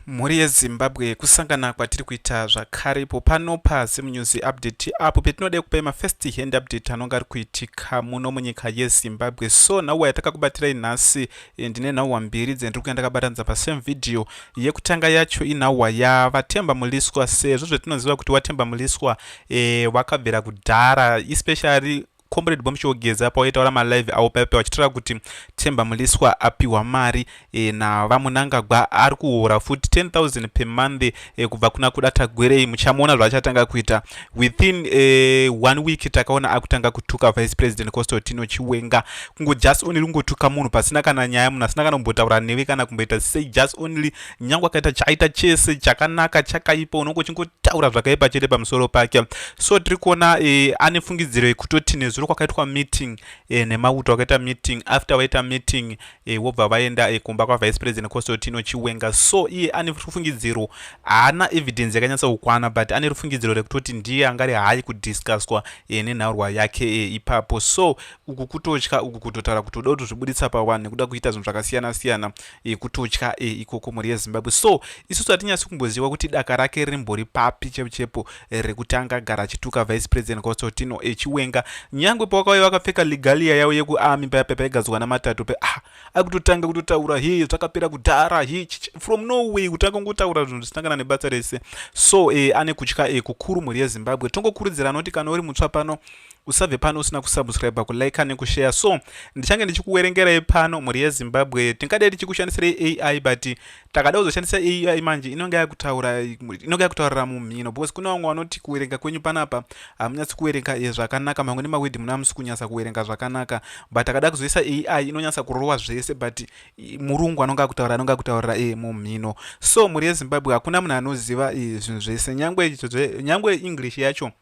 Mhuri yeZimbabwe kusangana kwatiri kuita zvakare ipo pano paZim News Update apo petinode kupai mafirst hand update anonga ari kuitika muno munyika yeZimbabwe. So nhau yatakakubatirai nhasi eh, ndine nhau mbiri dzendiri kuya ndakabatanidza pasame video. Yekutanga yacho inhau yaVaTemba Muliswa sezvo zvetinoziva kuti waTemba Muliswa eh, wakabvira kudhara especially Comrade Bombshell Geza pawaitaura malive avo paipa vachitaura kuti Themba Mliswa apihwa mari e, naVaMunangagwa ari kuhora futi 10000 per month e, kubva kuna kuda tagwerei muchamuona zvaachatanga kuita within e, one week takaona akutanga kutuka vice president Constantino Chiwenga kungo just only kungotuka munhu pasina kana nyaya munhu asina kana kumbotaura newe kana kumboita sei just only nyangwe akaita chaita chese chakanaka chakaipa unonge uchingotaura zvakaipa chete pamusoro pake so tiri kuona e, ane fungidziro yekutoti nezuro kwakaitwa meeting e, nemauto akaita meeting after vaita meeting e, wobva vaenda e, kumba kwavice president costotino chiwenga so iye ane rufungidziro haana evidence yakanyatsa kukwana but ane rufungidziro rekutoti ndiye angari haayi kudiscusswa e, nenhaurwa yake e, ipapo so uku kutotya uku kutotaura kuti uda kutozvibuditsa pawanhu nekuda kuita zvinhu zvakasiyana siyana e, kutotya e, ikoko mhuri yezimbabwe so isusu hatinyasi kumboziva kuti daka rake rimbori papi chepo chepo eh, rekutanga gara achituka vice president kosotino echiwenga eh, nyangwe pawakauya vakapfeka legalia yavo yekuarmy paya paya paigadzwa namatatu pe ah akutotanga kutotaura he zvakapera kudhara he from norway kutanga kungotaura zvinhu zvisangana nebasa rese so e, ane kutya e, kukuru mhuri yezimbabwe tongokurudzira anoti kana uri mutsva pano usabve pano usina kusubscribe kulike nekushare so ndichange ndichikuwerengerai pano mhuri yezimbabwe tingadai tichikushandisirei ai but takada kuzoshandisa ai manje inonge yakutaura inonge yakutaurira mumhino because kune vamwe vanoti kuwerenga kwenyu panapa hamunyatsi kuwerenga eh, zvakanaka mamwe nemawedhi muna musi kunyatsa kuwerenga zvakanaka but takada kuzoisa ai inonyatsa kurova zvese but murungu anonge akutaura anonge akutaurira e mumhino so mhuri yezimbabwe hakuna munhu anoziva eh, zvinhu zvese nyangwe english yacho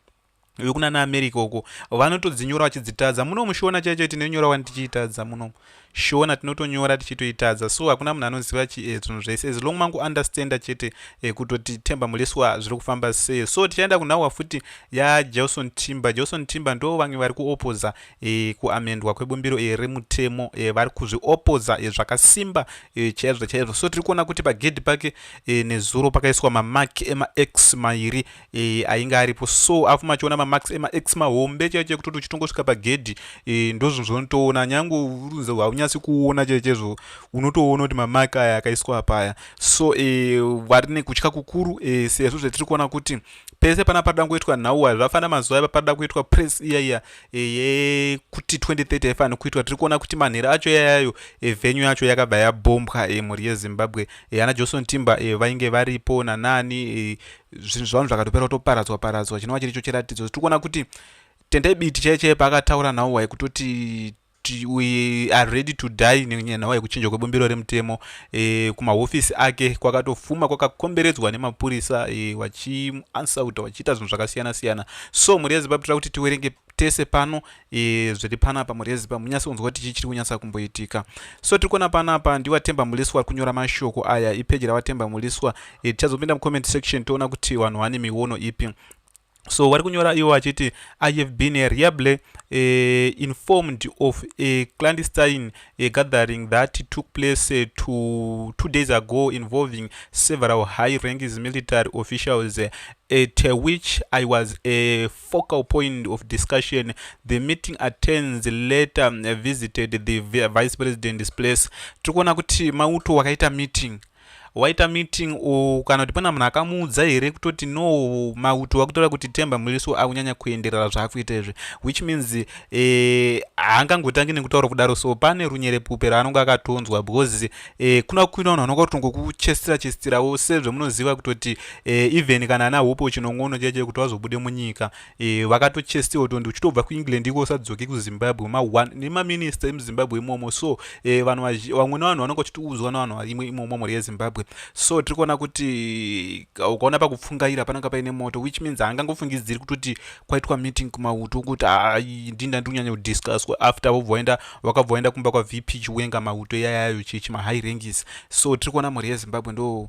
vekunana america uko vanotodzinyora vachidzitadza muno mushona chaicho tinonyora wani tichiitadza muno shona tinotonyora tichitoitadza so hakuna munhu anoziva eh, zvinhu zvese as long mangu understanda chete eh, kutoti temba muleswa zviri kufamba sei so tichaenda kunhawa futi yajohnson timber johnson timber ndo vamwe vari kuopoza eh, kuamendwa kwebumbiro remutemo vari kuzviopoza zvakasimba chaizvo chaizvo so tiri kuona kuti pagedhi pake nezuro pakaiswa mamak emax mairi e, ainge aripo so afu machiona mamax emax mahombe chaicho ekutoti uchitongosvika pagedhi e, ndozvinhu zvaunotoona nyange urunze haunyasi kuona chaizvo unotoona kuti mamak aya akaiswa apaya so e, vari nekutya kukuru e, sezvo zvetiri kuona kuti pese pana paida kuitwa nhau aya zvafana mazuva aya paida kuitwa press iya iya e, yekuti 2030 aifanira kuitwa tiri kuona kuti manhera acho yayayo e, venyu yacho yakabva yabombwa e, mhuri yezimbabwe e, ana johnson timber e, vainge varipo nanani e, zvinhu zvavanhu zvakatopera kutoparadzwa paradzwa chinova chiricho chiratidzo tiri kuona kuti tendai biti chaiye chaiye paakataura nhau waye kutoti we are ready to die nenhau yekuchinja kwebumbiro remutemo e, kumahofisi ake kwakatofuma kwakakomberedzwa nemapurisa e, eh, vachimuansauta vachiita zvinhu zvakasiyana siyana so mhuri yezimbabwe tira kuti tiwerenge tese pano e, zviri panapa murezi pamunyatsi kunzwa kuti chii chiri kunyatsa kumboitika so tiri kuona panapa ndiwatemba muliswa wari kunyora mashoko aya ipeji rawatemba muliswa e, tichazopinda mucomment section toona kuti vanhu vane miono ipi so wari kunyora iwo achiti i have been a reable uh, eh, informed of a clandestine uh, gathering that took place uh, two, two days ago involving several high ranks military officials uh, at uh, which i was a uh, focal point of discussion. The meeting attends later uh, visited the vice president's place. Tiri kuona kuti mauto wakaita meeting waita meeting u kana kuti pana munhu akamuudza here kutoti no mauto wakutora kuti temba muliso akunyanya kuenderera zvaakuita izvi which means eh, haangangotangi eh, nekutaura kudaro so pane runyerepupe raanonge akatonzwa because eh, kuna kuina vanhu vanoka kutongokuchesitira chesitirawo sezvemunoziva kutoti e, even kana ana hope chinongono chaicho kuti vazobude munyika e, vakatochestiwa tondi uchitobva kuengland iko usadzoke kuzimbabwe nemaminista emuzimbabwe imomo so e, vanhu vamwe nevanhu vanonga vachitiudzwa nevanhu varimwe imomo mhuri yezimbabwe so tiri kuona kuti ukaona pakupfungaira pananga paine moto which means haangangofungidziri kutoti kwaitwa meeting kumauto kuti ah, ndini ndandiri kunyanya kudiscusswa after vobva vaenda vakabva vaenda kumba kwavp chiwenga mauto yayayo chichi mahigh rangis so tiri kuona mhuri yezimbabwe ndo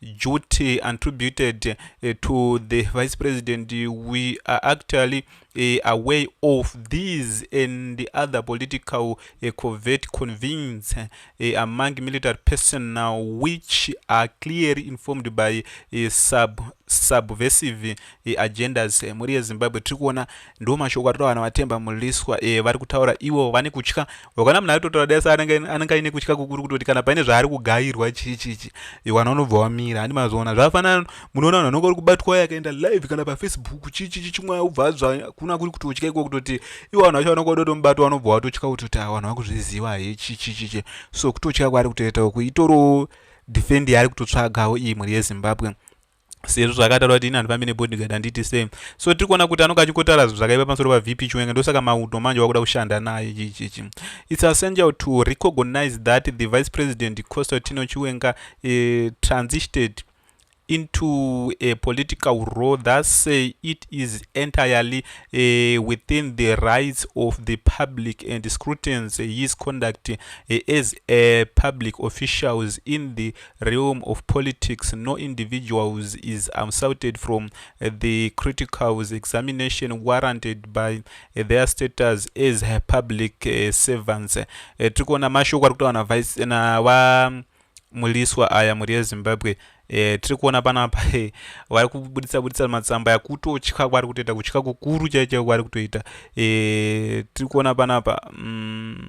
duty attributed eh, to the vice president we are actually eh, away of these and the other political eh, covert convins among military person now which are clearly informed by sub subversive agendas mhuri yezimbabwe tiri kuona ndo mashoko atota vanhu vatemba muliswa vari kutaura ivo vane kutya ukaona munhu aitotaura dai sa anenge aine kutya kukuru kutoti kana paine zvaari kugairwa chii chii chii iwana unobva wamira handi mazoona zvafanana munoona vanhu vanonga uri kubatwa waye akaenda live kana pafacebook chii chii chii chimwe ubva zva kuna kuri kutotya iko kutoti iwo vanhu vacho vanonga vadotomubata vanobva watotya kutoti a vanhu vakuzviziva hee chii chii chii chii so kutotya kwaari kutoita uku itoriwo defend yaari kutotsvagawo imwe rezimbabwe sezvo zvakataura kuti ini handifambi nebodyguard handiti same so tiri kuona kuti anonge achingotara zvinhu zvakaipa pamusoro pavp chiwenga ndosaka mauto manje wakuda kushanda naye chichichi its essential to recognize that the vice president constantino chiwenga uh, transited into a political role that say it is entirely uh, within the rights of the public and scrutins his conduct uh, as a public officials in the realm of politics no individuals is absouted from the criticals examination warranted by their status as public eh, servants eh, tiri kuona mashoko ari kutaura navice nava muliswa aya mhuri yezimbabwe e, tiri kuona panapa e, vari kubuditsa buditsa matsamba yakutotya kwari kutoita kutya kukuru chaicho kwari kutoita e, tiri kuona panapa mm.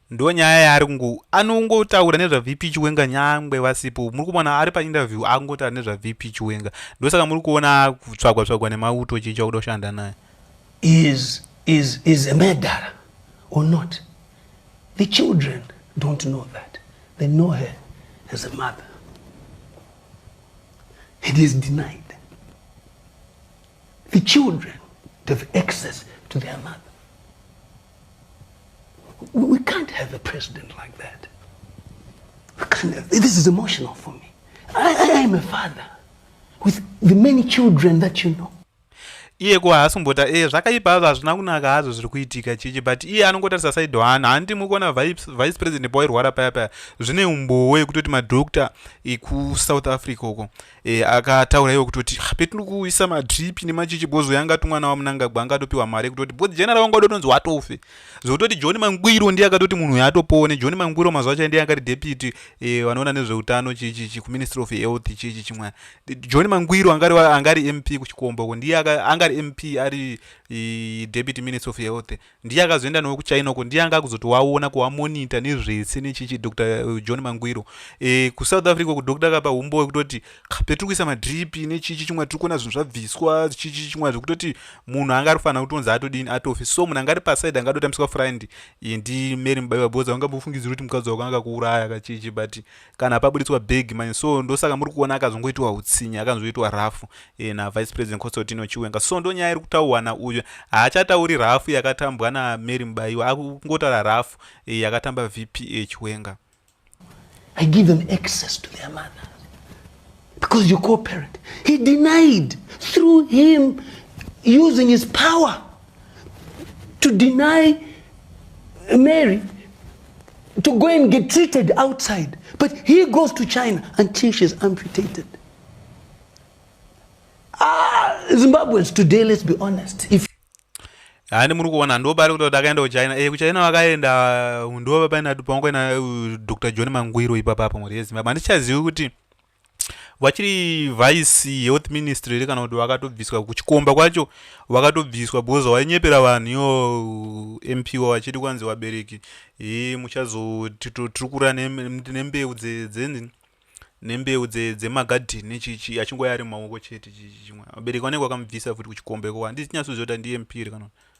Ndonyaya yaari kungo anongotaura nezva VP Chiwenga nyangwe vasipo muri kuona ari pa interview akungotaura nezva VP Chiwenga ndosaka muri kuona tsvagwa tsvagwa nemauto chii chakuda kushanda naye is is is a murderer or not the children don't know that they know her as a mother it is denied the children have access to their mother We can't have a president like that. We can't have, this is emotional for me. I, I am a father with the many children that you know. iye ko haasi kumbota e eh, zvakaipa hazvo hazvina kunaka hazvo zviri kuitika chichi but iye anongotarisa said one handi muri kuona vice president pawairwara paya paya zvine umbowo yekutoti madoctor ekusouth africa uko e, akataura iwo kutoti ah, petiri kuisa madrip nemachichi bozo yanga tumwana wamunangagwa anga atopiwa mari yekutoti bozi general wanga udotonzi watofe zvekutoti john mangwiro ndiye akatoti munhu uyo atopone john mangwiro mazuva acho ndiye akati deputy e, vanoona nezveutano chichichi kuministry of health chichi chimwana john mangwiro angari, angari mp kuchikombo ko ndiye angari mp ari e, deputy minister of health Ndiye akazoenda nawo kuChina uko ndiye anga akuzoti waona kuwamonita nezvese nechichi Dr eh, John Mangwiro e, kuSouth Africa uko doctor akapa humbo wekutoti petiri kuisa madrip nechichi chimwe tiri kuona zvinhu zvabviswa chichi chimwe zvekutoti munhu anga ari kufanira kutonzi atodini atofi so munhu anga ari paside anga adotambiswa friend ndi Mary Mubaiwa Boza vanga bofungidzira kuti mukadzi wako anga kuuraya kachichi but kana paburitswa big manje so ndosaka muri kuona akazongoitiwa utsinyi akanzoitwa rafu e, navice president constantino chiwenga so ndo nyaya iri kutaurwa nauyu haachatauri rafu yakatambwa namary mubaiwa akungotaura rafu e, yakatamba vpa chiwenga I give them access to their mother. because you cooperate he denied through him using his power to deny Mary to go and get treated outside. But he goes to China until she's amputated. Ah, Zimbabweans today, let's be honest. If hani muri kuona ndobari kuti takaenda kuchina e kuchina vakaenda ndova paina pangoina dr john mangwiro ipapa pamhuri yezimbabwe handichazivi kuti vachiri vice health ministry here kana kuti vakatobviswa kuchikomba kwacho vakatobviswa because wainyepera vanhu iyo mpo vachiti kwanzi vabereki e muchazotiri kura nembeu dzenzi nembeu dzemagadhini chichi achingoya ari mumaoko chete chichi chimwe vabereki vanenge vakamubvisa futi kuchikomba ikoko handisi nyatsoziva kuti ndimp here kana kuti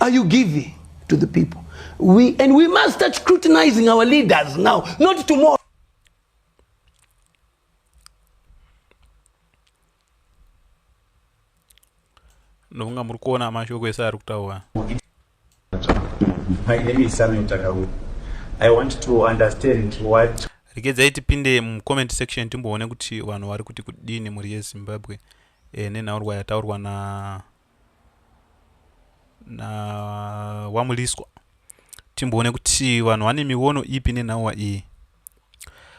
are you giving to the people we, and we must start scrutinizing our leaders now not tomorrow ndofunga muri kuona mashoko ese ari kutaura My name is Samuel Takawu. I want to understand what regedzai tipinde mucomment section timboone kuti vanhu vari kuti kudini mhuri yezimbabwe e, nenhaurwa yataurwa na na wamuliswa timboone kuti vanhu vane miono ipi nenhauwa iyi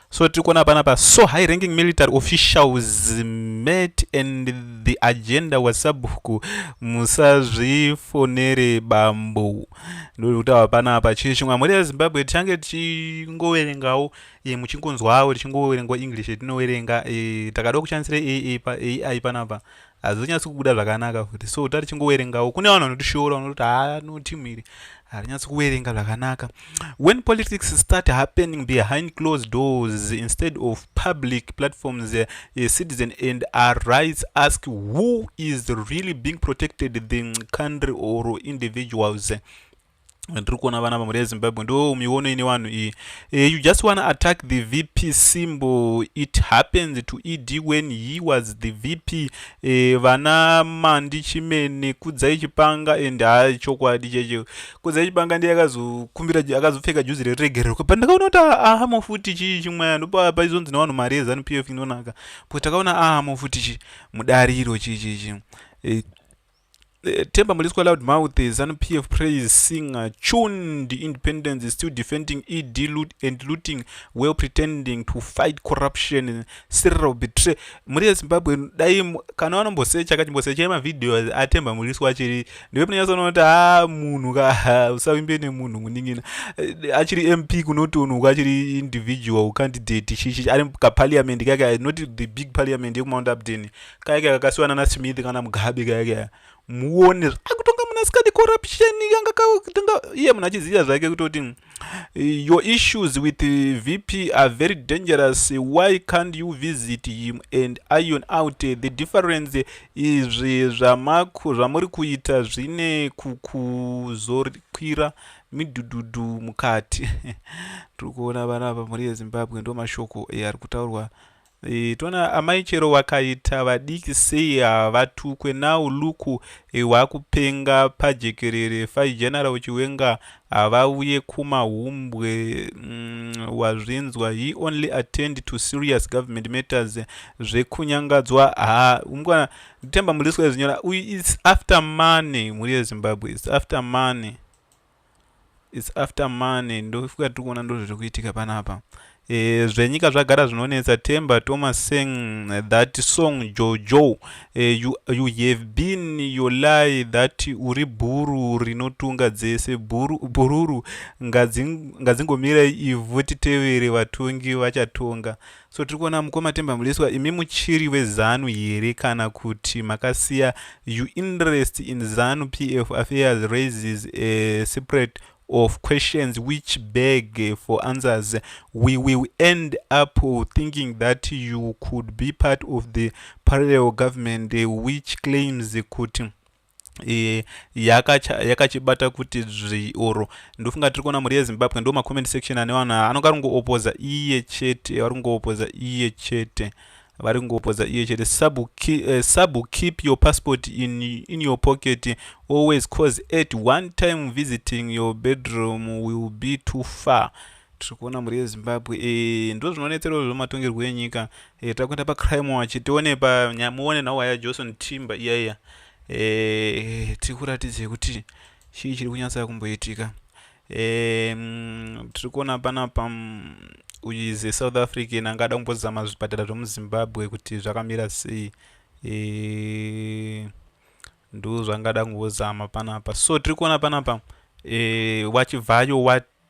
so tiri kuona panapa so high ranking military officials met and the agenda was sabhuku musazvifonere bambo ndiri kutaura panapa chii chimwe amuri yezimbabwe tichange tichingoverengawo e, muchingonzwawo tichingoverengwa english tinoverenga e, takada kushandisira ai panapa hazvinyatsi kubuda zvakanaka futi so tari chingowerengawo kune vanhu vanotishoora vanoti haa no team iri harinyatsi kuwerenga zvakanaka when politics start happening behind closed doors instead of public platforms eh, a citizen and our rights ask who is really being protected the country or individuals ndiri kuona vana vamhuri yezimbabwe ndo miono ine vanhu iyi uh, you just wanna attack the vp symbol it happens to ed when he was the vp uh, eh, vana mandi chimene kudzai chipanga and ha chokwadi cheche kudzai chipanga ndiye akazokumbira akazopfeka juzi reregererwa but ndakaona kuti ahamo futi chii chimweya ndopaizonzi nevanhu mari yezanup f inonaka but takaona ahamo futi chi mudariro chii chii chii eh, Eh, Temba Muliswa Loud Mouth, ZANU PF Praise Singer, Chun, the independence is still defending ED loot and looting while pretending to fight corruption, Cyril Betray. Muri Zimbabwe, dai kana vanombosecha kachimbosecha yemavideo aTemba Muliswa achiri ndiwe munonyatsoona kuti ha ah, munhu ka usavimbe nemunhu munin'ina eh, achiri MP kunotonhuka achiri individual candidate chichi ari kaparliament kaka not the big parliament yekuMount Upton kaya kaya kakasiwana na smith kana mugabe kaya kaya muone akutonga muna sikadi corruption kanga katonga iye munhu achiziva zvake kutoti mm, your issues with vp are very dangerous why can't you visit him and iron out the difference izvi zvamako zvamuri kuita zvine kukuzorikwira midududu mukati tiri kuona vana apa mhuri yezimbabwe ndo mashoko ari kutaurwa E, tona amai chero wakaita vadiki sei havatukwe now luku e, wakupenga pajekerere fai general chiwenga havauye kumahumbwe mm, wazvinzwa he only attend to serious government matters zvekunyangadzwa ha umkwana nditemba muriswa izvinyora uyu is after money mhuri yezimbabwe is after money It's after money ndofuka tiri kuona ndozviri kuitika panapa e, zvenyika zvagara zvinonetsa temba thomas sang that song jojo e, you, you have been your lie that uri bhuru rinotunga dzese bhuru, bhururu ngadzingomira ivhu titevere vatongi vachatonga So tiri kuona mukoma Themba Mliswa imi muchiri weZanu here kana kuti makasiya you interest in Zanu PF affairs raises a separate of questions which beg for answers we will end up thinking that you could be part of the parallel government which claims kuti e, yakachibata kuti dzvi or ndofunga tiri kuona mhuri yezimbabwe ndo macomment section ane vanhu anonge ari kungoopoza iye chete vari kungoopoza iye chete vari kungoopoza iye chete sabu keep, uh, eh, sabu keep your passport in, in your pocket always cause at one time visiting your bedroom will be too far tiri kuona mhuri yezimbabwe e, ndo zvinonetsera izvo matongerwo enyika e, takuenda pacrime wachi tione pa muone nhau haya johnson timba iya iya e, tiri kuratidza kuti chii chiri kunyatsa kumboitika e, mm, tiri kuona panapa mm, uyize south african angada kumbozama zvipatara zvemuzimbabwe kuti zvakamira sei e, ndo zvangada kumbozama panapa so tiri kuona panapa e, wachivhayo wat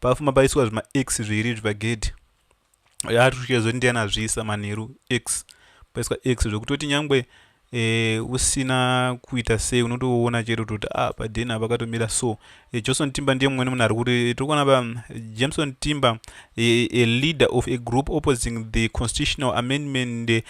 Pafuma paiswa zvima X zviiri izvi pagedhi. Yaa tusvike zoti ndiani azviisa manheru X. Paiswa X zvekutoti nyangwe e, usina kuita sei unotoona chete kuti ah paden apa pakatomira so e, johnson timba ndiye mumwe nemunhu ari kuti tiri kuona pa jameson timba e, a leader of a group opposing the constitutional amendment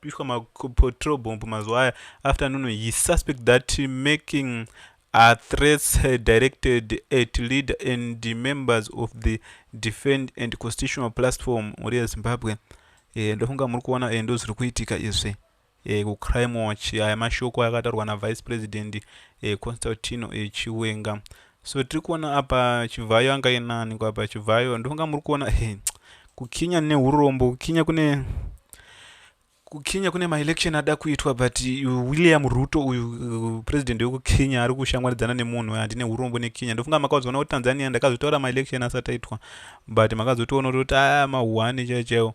pishwa ma patrol bomb mazuva aya after nono he suspect that making are threats directed at leader and members of the defend and constitutional platform mhuri yezimbabwe e, ndofunga muri kuona e, ndozviri kuitika izvi e, kucrime watch aya mashoko ayakataurwa navice president e, constantino e, chiwenga So tiri kuona apa Chivhayo anga ainani ko apa Chivhayo ndonga muri kuona hey, kukinya neurombo kukinya kune kukenya kune maelection ada kuitwa but uh, william ruto uyu uh, president wekukenya ari kushamwaridzana nemunhu handine urombo nekenya ndofunga makazoona kuti tanzania ndakazotaura maelection asati aitwa but makazotoona kuti a ah, mahuhane chaichaiwo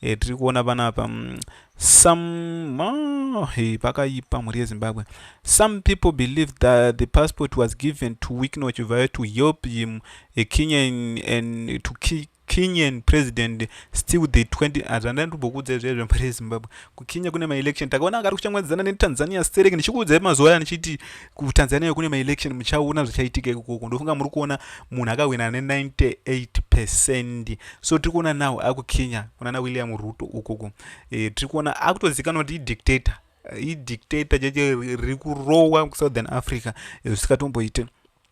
e, tiri kuona panapa mm, some oh, hey, pakaipa mhuri yezimbabwe some people believe that the passport was given to wikno chivhayo to help him a kenyan and to ki kenyan president still the 20 hazvanda ah, ndibhokuudza izvezvo mhuri yezimbabwe kukenya kune maelection takaona akari kuchamwadzana netanzania sterek ndichikuudzai mazuva aya ndichiti kutanzania kune maelection muchaona zvichaitika ikoko ndofunga muri kuona munhu akahwina ne98 percent so tiri kuona now akukenya kuna na william ruto ukoko e, tiri kuona akutozikanwa kuti idictator idictator cheche riri kurowa kusouthern africa eh, zvisingatomboite e,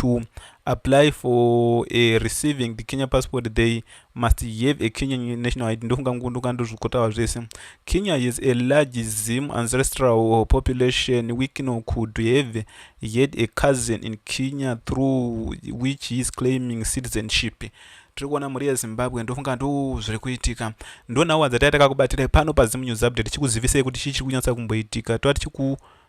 to apply for uh, receiving the kenya passport they must have a kenyan national id ndofunga ngunduka ndozvikotava zvese kenya is a large zim ancestral population wikino could have had a cousin in kenya through which he is claiming citizenship tiri kuona mhuri yezimbabwe ndofunga ndo zviri kuitika ndonhau adzataya takakubatira pano pazimu news update chikuzivisei kuti chii chiri kunyatsa kumboitika tova tichiku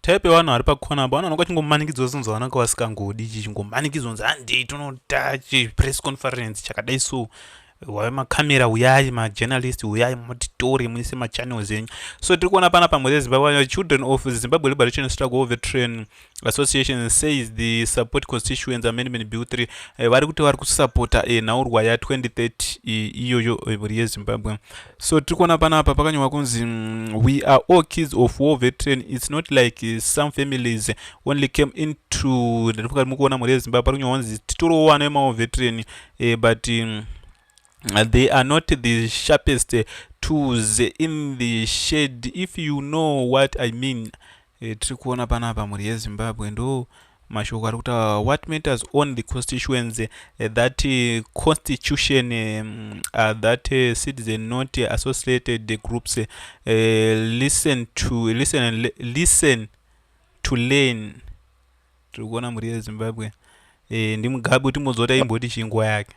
type yevanhu vari pacorner apo vanooneka chingomanikidzwa zvinonzi vanaka vasingangodi ichi chingomanikidzwa nzi handei tinoda chipress conference chakadai so wave makamera uyai majournalist uyai motitore muise machannels enyu so tiri kuona pana pamwe zezimbabwe children of zimbabwe liberation struggle of the train association says the support constituents amendment bill 3 eh, vari kuti vari kusapota eh, nhaurwa ya 2030 iyoyo eh, mhuri yezimbabwe so tiri kuona panapa pakanyorwa kunzi mm, we are all kids of war veteran its not like uh, some families only came into ndatifuka mukuona mhuri yezimbabwe pari kunyorwa kunzi titorowo vana vemawar veteran eh, but um, they are not the sharpest tools in the shade if you know what i mean E, tiri kuona panapa mhuri yezimbabwe ndo mashoko ari kutaura what matters on the constituency eh, that eh, constitution eh, mm, uh, that uh, citizen not associated the groups uh, listen to listen and listen to learn tiri kuona mhuri yezimbabwe eh, ndimugabe kuti mozota imboti chinguva yake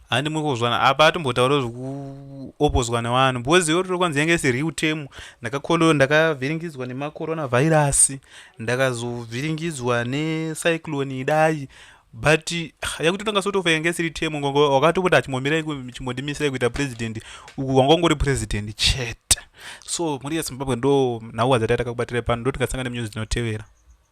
handimwe kuzwana apa atombotaura zvekuopozwa nevanhu because iyo rokwanzi yange isi real tem ndakakolo ndakavhiringidzwa nemacorona virus ndakazovhiringidzwa necyclone idai but ah, yakuti tanga sotofa yange isiri tem ngongo wakatopota achimomira chimondimisirai kuita president uku wanga ungori president chete so mhuri yezimbabwe ndo nhau wadzataitakakubatirai pano ndotikasanga nemunyuzi dzinotevera